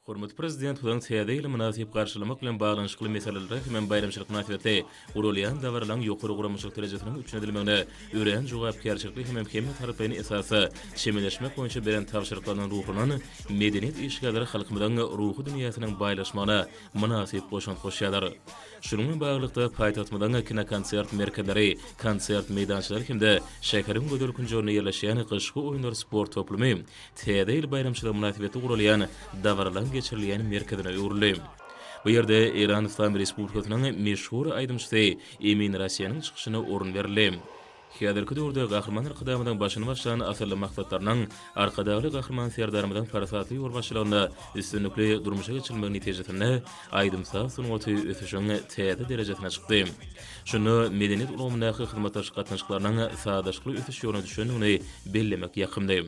Hormatly Prezidentimiziň Täze ýyly mynasyp garşylamak bilen baglanyşykly meselelere hemem baýramçylyk mynasybetli guralýan dabaralaryň ýokary guramaçylyk derejesiniň üpjün edilmegine örän jogapkärçilikli hemem hemmetaraplaýyn esasda çemeleşmek boýunça beren tabşyryklaryndan ruhlanan medeniýet işgärleri halkymyzyň ruhy dünýäsiniň baýlaşmagyna mynasyp goşant goşýarlar. Şunuň bilen baglylykda, paýtagtymyzyň kinokonsert merkezleri, konsert meýdançalary hem-de şäheriň gözel künjeginde ýerleşýän Gyşky oýunlar sport toplumy Täze ýyl baýramçylygy mynasybetli guralýan dabaralaryň geçirilýän merkezine öwrüldi. Bu ýerde Eýran Yslam Respublikasynyň meşhur aýdymçysy Emin Raseniň çykyşyna orun berildi. Häzirki döwürde Gahryman Arkadagymyzyň başyny başlan asylly maksatlarynyň Arkadagly Gahryman Serdarymyzyň parasatly ýolbaşçylygynda üstünlikli durmuşa geçirilmegi netijesinde aýdym-saz sungaty ösüşiň täze derejesine çykdy. Şunda medeniýet ulgamyndaky hyzmatdaşlyk gatnaşyklarynyň sazlaşykly ösüş ýoluna düşendigini bellemek ýakymly.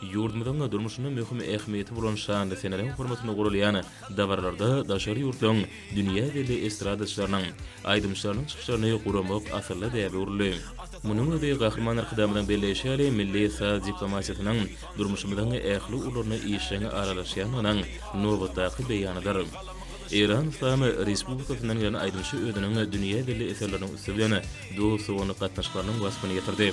Ýurdumyzyň durmuşynda möhüm ähmiýeti bolan şanly seneleriň hormatyna guralýan dabaralarda daşary ýurtlaryň dünýä belli estradaçylarynyň, aýdymçylarynyň çykyşlaryny guramak asylly däbe öwrüldi. Munuň özi Gahryman Arkadagymyzyň belleýşi ýaly, milli saz diplomatiýasynyň durmuşymyzyň ähli ugurlaryna işjeň aralaşýandygynyň nobatdaky beýanydyr. Eýran Yslam Respublikasyndan gelen aýdymçy özüniň dünýä belli eserleriniň üsti bilen dost-doganlyk gatnaşyklarynyň waspyny ýetirdi.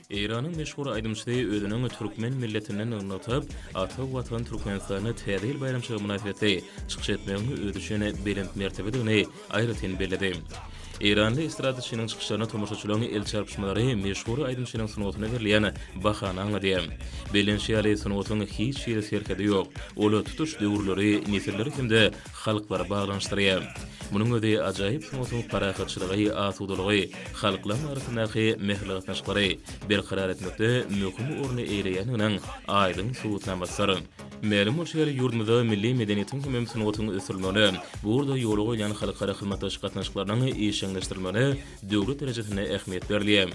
Eýranyň meşhur aýdymçysy özüniň türkmen milletinden nygnatyp, ata Watan Türkmenistanda Täze ýyl baýramçylygy mynasybetli çykyş etmegiň özi üçin belent mertebedigini aýratyn belledi. Eýranly estradaçynyň çykyşlaryna tomaşaçylaryň el çarpyşmalary meşhur aýdymçynyň sungatyna berlen bahany aňladýar. Bellenişi ýaly, sungatyň hiç hili serhedi ýok. Ol tutuş döwürleri, nesilleri hem-de halklary baglanyşdyrýar. Munuň özi ajaýyp sungatyň parahatçylygy, asudalygy, halklaryň arasyndaky mähirli gatnaşyklary berkarar etmekde möhüm orny eýeleýändiginiň aýdyň subutnamasydyr. Mälim bolşy ýaly, ýurdumyzda milli medeniýetiň hemem sungatyň ösdürilmegine, bu ugurda ýola goýlan halkara hyzmatdaşlyk gatnaşyklarynyň işjeňleşdirilmegine döwlet derejesinde ähmiýet berilýär.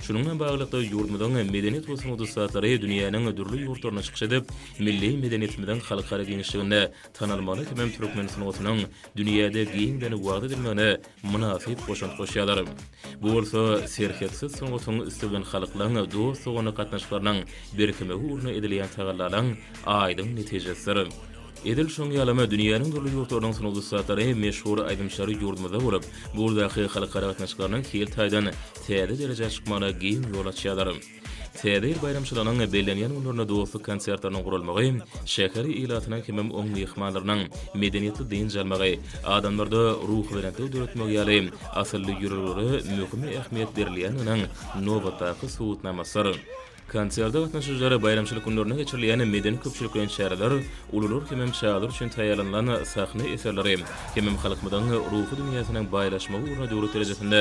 Şunuň bilen baglylykda, ýurdumyzyň medeniýet we sungat ussatlary dünýäniň dürli ýurtlaryna çykyş edip, milli medeniýetimiziň halkara giňişliginde tanalmaly hemem türkmen sungatynyň dünýäde giňden wagyz edilmegine mynasyp goşant goşýarlar. Bu bolsa serhetsiz sungatyň üsti bilen halklaryň dost-doganlyk gatnaşyklarynyň berkemegi ugrunda edilýän tagallalaryň aýdyň netijesidir. Edil şoň ýalam, dünýäniň dürli ýurtlarynyň sungat ussatlary, meşhur aýdymçylary ýurdumyzda bolup, bu ugurdaky halkara gatnaşyklarynyň hil taýdan täze derejä çykmagyna giň ýol açýarlar. Täze ýyl baýramçylygynyň bellenýän günlerinde dostluk konsertleriniň guralmagy şäheri ilatynyň hemem oň myhmanlarynyň medeniýetli dynç almagy, adamlarda ruhubelentlik döretmegi ýaly asylly ýörelgelere möhüm ähmiýet berilýändiginiň nobatdaky subutnamasydyr. Konserde gatnaşyjylar baýramçylyk günlerinde geçirilýän medeni-köpçülikleýin çäreler, ulular hemem çagalar üçin taýýarlanylan sahna eserleri hemem halkymyzyň ruhy dünýäsiniň baýlaşmagy ugruna döwlet derejesinde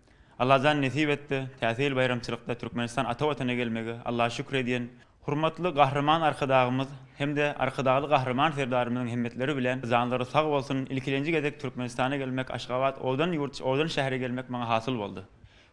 Allajan nesip etdi, Täze ýyl baýramçylykda Türkmenistan ata Watana gelmegi Alla şükür edýän Hormatly Gahryman Arkadagymyz hem-de Arkadagly Gahryman Serdarymyzyň himmetleri bilen janlary sag bolsun, ilkilenji gezek Türkmenistana gelmek Aşgabat owadan ýurt, owadan şähere gelmek maňa hasyl boldy.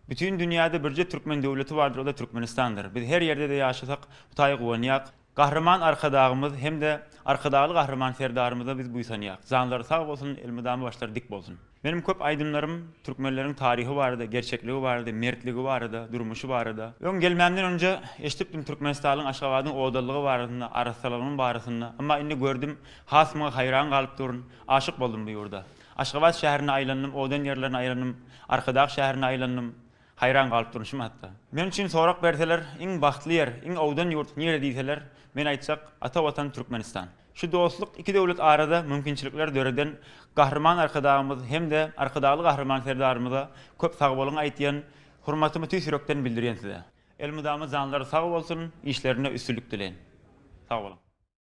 Bütin dünýäde birje türkmen döwleti bardyr o-da Türkmenistandyr. Biz her ýerde-de ýaşasak Hutaýa guwanýak. Gahryman Arkadagymyz hem-de Arkadagly Gahryman Serdarymyza biz buýsanýarys. Janlary sag bolsun, elmydama başlary dik bolsun! Meniň köp aýdymlarym türkmenleriň taryhy barada, gerçekligi barada, mertligi barada, durmuşy barada. Öň gelmämden önje eşdipdim Türkmenistalyň Aşgabadyň odalygy barasynda, arassalygynyň barasynda. Emma indi gördüm, has muňa haýran galyp durun. Aşyk boldum bu ýurda. Aşgabat şäherine aýlandym, odan ýerlerine aýrandym, Arkadag şäherine aýlandym. Haýran galyp durmuşym hatda. Men üçin sorag berseler, iň bagtly ýer, iň owdan ýurt nire diýseler, men aýtjak, ata Watan Türkmenistan. Şu dostluk iki döwlet arada mümkinçilikler döreden Gahryman Arkadagymyz hem-de Arkadagly Gahryman Serdarymyza köp sag boluň aýtýan, hormatymy tüýs ýürekden bildirýän size. Elmydama janlary sag bolsun, işlerinde üstünlik dileýin. Sag boluň.